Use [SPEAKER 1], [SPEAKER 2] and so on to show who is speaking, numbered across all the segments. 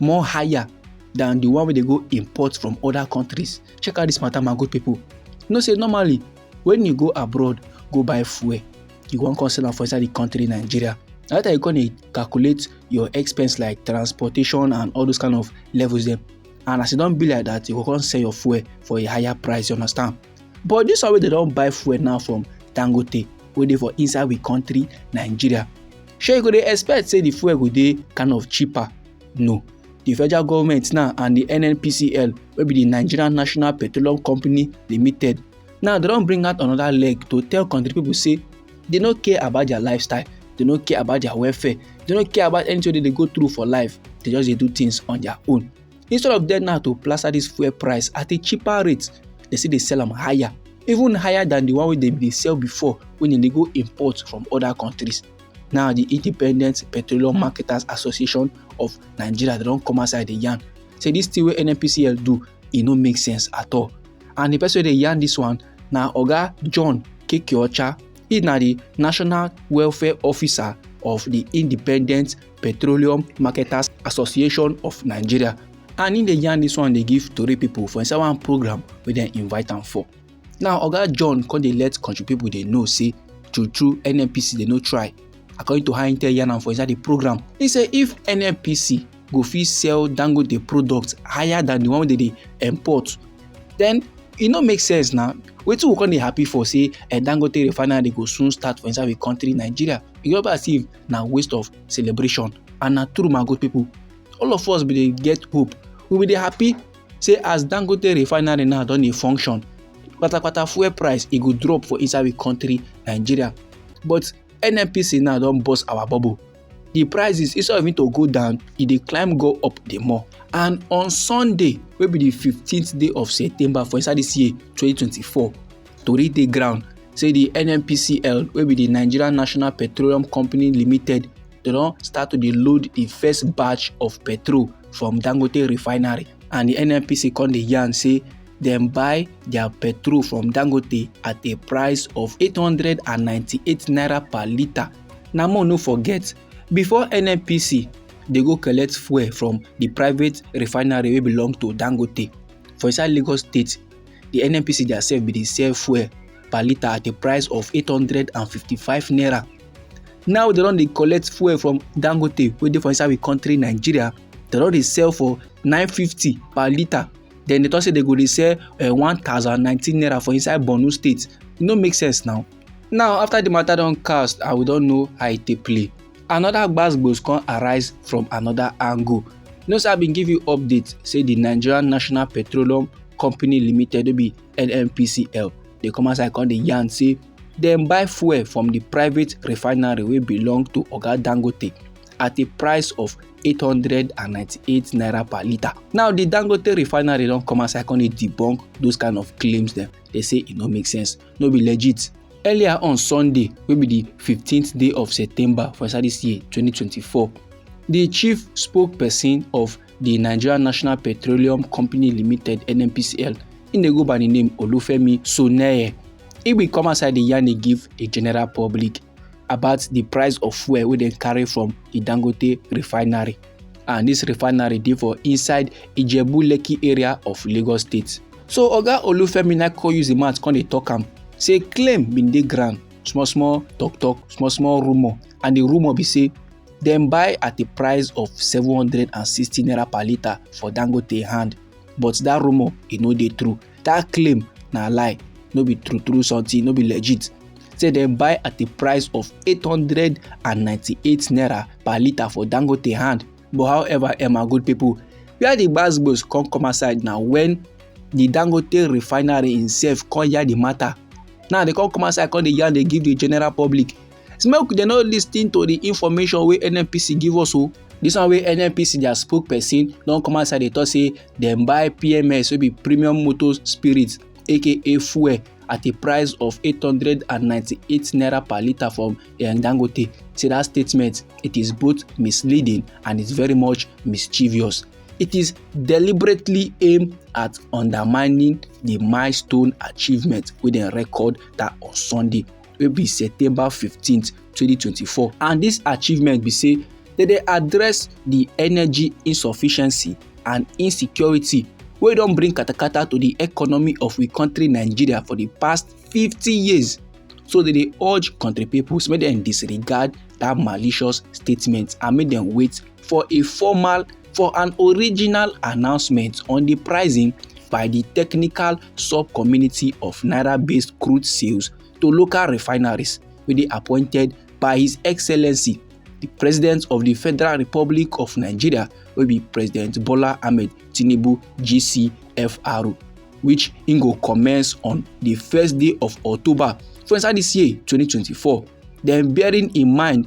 [SPEAKER 1] more higher than the one wey dey go import from other countries check out this matter my good people you know say normally when you go abroad go buy fuel you wan come sell am for inside the country nigeria na later you come dey calculate your expense like transportation and all those kind of levels dem and as e don be like that you go come sell your fuel for a higher price you understand but this one wey dem don buy fuel now from dangote wey dey for inside we country nigeria shey you go dey expect say the fuel go dey kind of cheaper no the federal government now and the nnpcl wey be the nigerian national petroleum company limited now they don bring out another leg to tell country people say they no care about their lifestyle they no care about their welfare they no care about anything wey dey go through for life they just dey do things on their own Instead of them now to plaster this fuel price at a cheaper rate, they still dey sell am higher, even higher than the one wey dem dey sell before when dem dey go import from other countries. Now the Independent Petroleum Marketers Association of Nigeria they don come outside dey yarn say this thing wey NNPCL do e no make sense at all. And the person wey dey yarn this one na Oga John Kekeocha, he na the National Welfare Officer of the Independent Petroleum Marketers Association of Nigeria and im dey yarn dis one dey give tori pipo for inside one program wey dem invite am for. Now Oga John come dey let country pipo dey know say true true NNPC dey no try according to how im tell yarn am for inside di program. Im say if NNPC go fit sell Dangote product higher than di one wey dem dey import den e no make sense na wetin we come dey happy for say eh, Dangote refinery go soon start for inside we country Nigeria e go be as if na waste of celebration and na true my good people all of us bin dey get hope we bin dey happy say as dangote refinery now don dey function patapata fuel price e go drop for inside we country nigeria but nnpc now don burst our bubble the prices instead of it to go down e dey climb go up the more and on sunday wey be the fifteenth day of september for inside this year twenty twenty four tori dey ground say di nnpcl wey be di nigeria national petroleum company limited dem don start to dey load di first batch of petrol from dangote refinery and di nnpc come dey yarn say dem buy their petrol from dangote at a price of 898 naira per litre na more no forget before nnpc dey go collect fuel from di private refinery wey belong to dangote for inside lagos state di nnpc diasef bin dey sell fuel per litre at a price of 855 naira now dem don dey collect fuel from dangote wey dey for inside we country nigeria dem don dey sell for 950 per litre then they talk say they go dey sell uh, eh, 1019 naira for inside borno state e no make sense now now after the matter don cast and we don know how e take play Another gbas-gbos come arise from another angle. You know say I been give you update say the Nigerian National Petroleum Company Limited wey be NNPCL dey come outside come dey yarn say dem buy fuel from the private refinery wey belong to Oga Dangote at a price of 898 naira per litre. Now the Dangote refinery don come outside come dey debunk those kind of claims dem. They say e no make sense. no be legit earlier on sunday wey be di fifteenth day of september for inside dis year twenty twenty four di chief spokesperson of di nigeria national petroleum company limited nnpcl im dey go by di name olufemi soneye e bin come outside di yarn e give di general public about the price of fuel wey dem carry from the dangote refinery and this refinery dey for inside ijebu lekki area of lagos state so oga olufemi na come use im mouth come dey talk am say claim bin dey ground small small talk talk small small rumour and the rumour be say dem buy at a price of 760 naira per litre for dangote hand but that rumour e no dey true that claim na lie no be true true something no be legit say dem buy at the price of 898 naira per litre for dangote hand but however emma good people where the gbasgbos come come aside na when the dangote refinery himself come yarn the matter now they come come aside come dey yarn dey give the general public say make dem no lis ten to the information wey nnpc give us o This one wey nnpc their spokesperson don come outside dey talk say dem buy pms wey be premium motor spirit aka fuel at a price of 898 naira per litre from eh, dangote say that statement it is both misleading and is very much mischievous it is deliberately aimed at undermining the milestone achievement wey dem record that on sunday wey be september 15 2024 and dis achievement be say dem dey address di energy insufficiency and insecurity wey don bring katakata to di economy of we kontri nigeria for di past 50 years so dem dey urge kontri pipo make dem disregard dat malicious statement and make dem wait for a formal for an original announcement on the pricing by the technical sub-committee of naira-based crude sales to local refineries wey dey appointed by His Excellency the President of the Federal Republic of Nigeria wey be President Bola Ahmed Tinubu GCFR which im go commence on the first day of October for inside this year 2024 then bearing in mind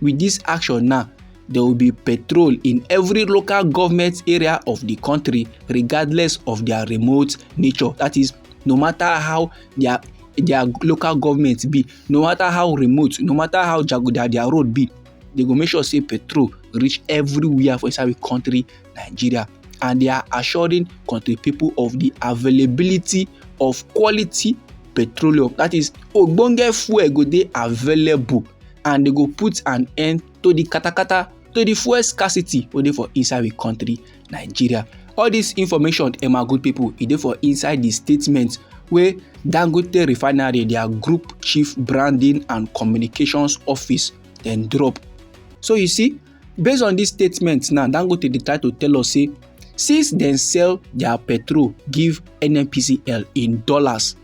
[SPEAKER 1] With this action now, there will be patrol in every local government area of the country regardless of their remote nature. That is, no matter how their their local government be, no matter how remote, no matter how jaguda their road be, they go make sure say patrol reach everywhere for inside the country Nigeria and they are assuring country people of the availability of quality petroleum that is ogbonge fuel go dey available and they go put an end to the katakata to the fuel scarcity wey dey for inside the country nigeria all this information eh my good people e dey for inside the statement wey dangote refinery their group chief branding and communications office dem drop so you see based on this statement now dangote dey try to tell us say since dem sell their petrol give nnpcl in dollars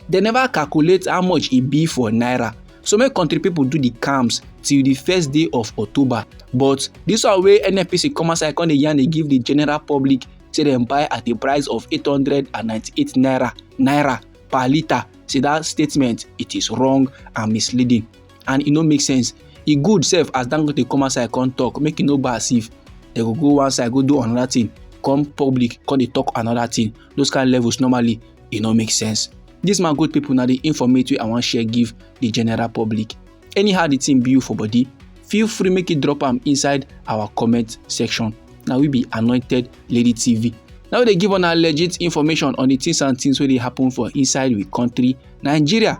[SPEAKER 1] dem never calculate how much e be for naira so many country people do the camps till the first day of october but this one wey nnpc come outside come dey yarn dey give the general public say dem buy at a price of eight hundred and ninety-eight naira naira per litre say that statement it is wrong and misleading and e no make sense e good sef as dangote come outside come talk make e no go as if dem go go one side go do another thing come public come dey talk another thing those kind of levels normally e no make sense this man good people na the informate wey i wan share give the general public anyhow the thing be you for body feel free make you drop am inside our comment section na we be anointed lady tv na we dey give una legit information on the things and things wey dey happen for inside we country nigeria